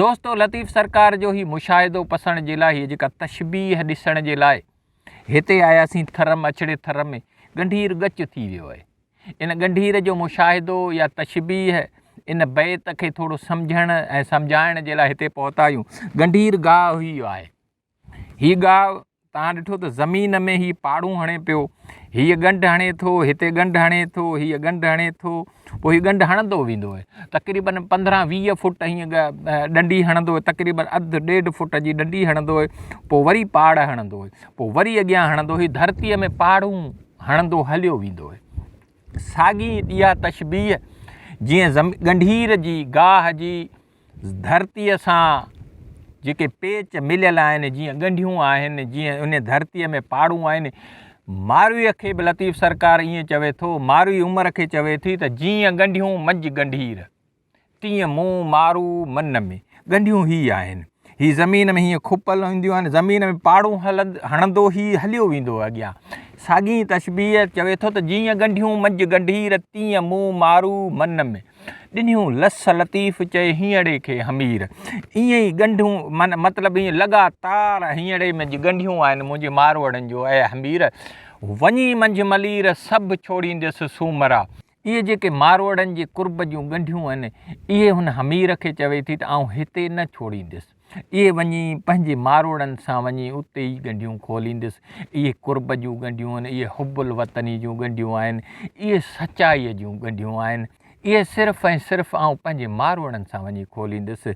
دوستو لطيف سرڪار جو هي مشاهدو پسڻ جي لاء هي جيڪا تشبيهه ڏسڻ جي لاء هتي آياسين ٿر م اڇڙي ٿر ۾ ڳنڍير ڳچ ٿي ويو آهي ان ڳنڍير جو مشاهدو يا تشبيهه ان بيت کي ٿورو سمجهڻ ۽ سمجهائڻ جي لاء هتي پهتا آهيون ڳنڍير گاهه هئي آهي هي ڳاهه، توهان ڏٺو ته زمين ۾ هي پاڙون هڻي پيو، هيء ڳنڍ هڻي ٿو، هتي ڳنڍ هڻي ٿو، هيء ڳنڍ هڻي ٿو، پوء هي ڳنڍ هڻندو ويندو آهي، تقريباً پندرهن ويهه فوٽ هيئن ڏنڊي هڻندو آهي، تقريباً اڌ ڏيڍ فوٽ جي ڏنڊي هڻندو آهي، پوء وري پاڙ هڻندو آهي، پوء وري اڳيان هڻندو، هي ڌرتيء ۾ پاڙون هڻندو هليو ويندو آهي. ساڳي اها تشبيهه جيئن ڳنڍير جي، گاهه جي، ڌرتيء سان جيڪي پيچ مليل آهن، جيئن ڳنڍيون آهن، جيئن ان ڌرتيء ۾ پاڙون آهن، مارويء کي به لطيف سرڪار ائين چوي ٿو، ماروي عمر کي چوي ٿي ته جيئن ڳنڍيون منجهه ڳنڍير، تيئن مون، مارو، من ۾. ڳنڍيون هي آهن. هي زمين ۾ هيئن کپل هونديون آهن، زمين ۾ پاڙون هڻندو هي هليو ويندو اڳيان. ساڳئي تشبيهه چوي ٿو ته جيئن ڳنڍيون منجهه ڳنڍير، تيئن مون، مارو، من ۾. ڏنيون لس لطيف چئي هينئڙي کي همير ائين ئي ڳنڍون من مطلب ائين لڳاتار هينئڙي ۾ جي ڳنڍيون آهن منهنجي ماروئڙن جو اي همير وڃي منجهه ملير سڀ ڇوڙينديس سومرا. اهي جيڪي ماروئڙن جي قرب جون ڳنڍيون آهن اهي هن همير کي چوي ٿي ته آئون هتي نه ڇوڙينديس. اهي وڃي پنهنجي ماروئڙن سان وڃي اتي ئي ڳنڍيون کوليندس. اهي قرب جون ڳنڍيون آهن، اهي حب الوطني جون ڳنڍيون آهن، اهي سچائيء جون ڳنڍيون آهن، اهي صرف ۽ صرف آئون پنهنجي ماروئڙن سان وڃي کوليندس.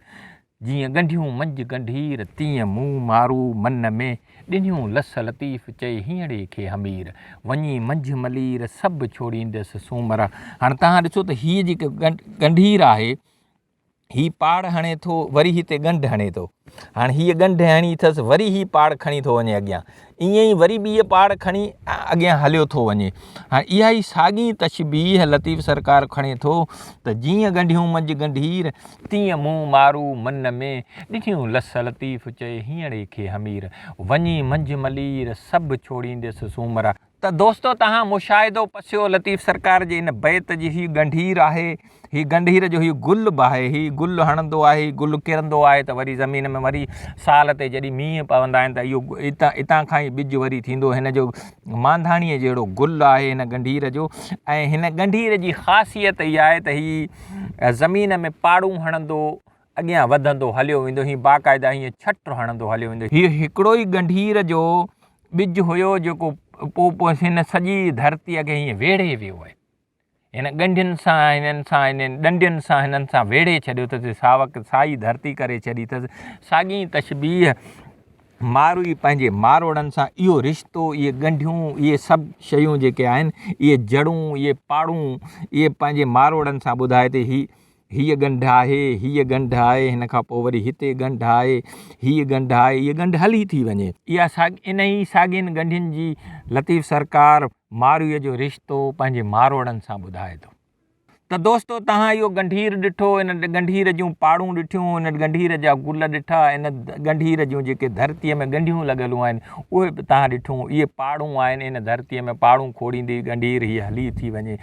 جيئن ڳنڍيون منجهه ڳنڍير، تيئن مون مارو من ۾، ڏنيون لس لطيف چئي هينئڙي کي همير، وڃي منجهه ملير، سڀ ڇوڙيندس سومرا. هاڻي توهان ڏسو ته هيء جيڪا ڳنڍير آهي، هي پاڙ هڻي ٿو وري هتي ڳنڍ هڻي ٿو هاڻ هيء ڳنڍ هڻي اٿس وري هي پاڙ کڻي ٿو وڃي اڳيان ائين ئي وري ٻيء پاڙ کڻي اڳيان هليو ٿو وڃي هاڻ اها ئي ساڳي تشبيهه لطيف سرڪار کڻي ٿو ته جيئن ڳنڍيون منجهه ڳنڍير تيئن مون مارو من ۾ ڏٺيون لس لطيف چئي هينئڙي کي همير وڃي منجهه ملير سڀ ڇوڙينديس سومرا ته دوستو تهان مشاهدو پسيو لطيف سرڪار جي ان بيت جي هي ڳنڍير آهي هي ڳنڍير جو هي گل به آهي هي گل هڻندو آهي هي گل ڪرندو آهي ته وري زمين ۾ وري سال تي جڏهن مينهن پوندا آهن ته اهو اتان اتان کان ئي ٻج وري ٿيندو هن جو مانڌاڻيء جهڙو گل آهي هن ڳنڍير جو ۽ هن ڳنڍير جي خاصيت اها آهي ته هي زمين ۾ پاڙون هڻندو اڳيان وڌندو هليو ويندو. هي باقاعده هيئن ڇٽ هڻندو هليو ويندو. هي هڪڙو ئي ڳنڍير جو ٻج هيو جيڪو پوء هن سڄي ڌرتيء کي هيئن ويڙهي ويو آهي. هن ڳنڍين سان، هنن سان، هنن ڏنڊين سان، هنن سان ويڙهي ڇڏيو اٿس. ساوڪ سائي ڌرتي ڪري ڇڏي اٿس. ساڳي ئي تشبيهه ماروئي پنهنجي ماروئڙن سان اهو رشتو، اهي ڳنڍيون، اهي سڀ شيون جيڪي آهن، اهي جڙون، اهي پاڙون، اهي پنهنجي ماروئڙن سان ٻڌائي ٿي. هي هيء ڳنڍ آهي، هيء ڳنڍ آهي، هن کان پوء وري هتي ڳنڍ آهي، هيء ڳنڍ آهي، هيء ڳنڍ هلي ٿي وڃي. اها ساڳي، انهيء ساڳين ڳنڍين جي لطيف سرڪار مارويء جو رشتو پنهنجي ماروئڙن سان ٻڌائي ٿو ته دوستو توهان اهو ڳنڍير ڏٺو، ان ڳنڍير جون پاڙون ڏٺيون، ان ڳنڍير جا گل ڏٺا، ان ڳنڍير جون جيڪي ڌرتيء ۾ ڳنڍيون لڳلون آهن، اهي به توهان ڏٺيون، اهي پاڙون آهن، ان ڌرتيء ۾ پاڙون کوڙيندي ڳنڍير هيء هلي ٿي وڃي.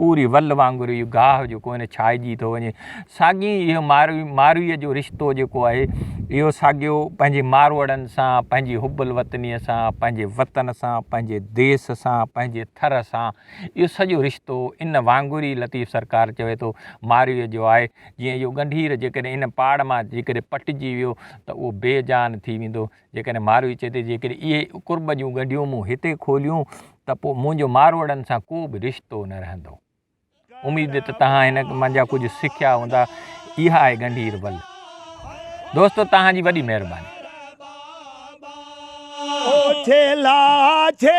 پوري ول وانگر اهو گاهه جيڪو آهي نه ڇائجي ٿو وڃي ساڳي اهو ماروي مارويء جو رشتو جيڪو آهي اهو ساڳيو پنهنجي ماروئڙن سان پنهنجي حب الوطنيء سان پنهنجي وطن سان پنهنجي ديس سان پنهنجي ٿر سان اهو سڄو رشتو ان وانگر ئي لطيف سرڪار چوي ٿو مارويء جو آهي جيئن اهو ڳنڍير جيڪڏهن ان پاڙ مان جيڪڏهن پٽجي ويو ته اهو بي جان ٿي ويندو جيڪڏهن ماروي چئي ته جيڪڏهن اهي قرب جون ڳنڍيون مون هتي کوليون ته پوء منهنجو ماروئڙن سان ڪو به رشتو نه رهندو. اميد ته تهان هن منجهان ڪجهه سکيا هوندا. اها آهي ڳنڍير ول. دوستو تهان جي وڏي مهرباني. ڇيلا ڇي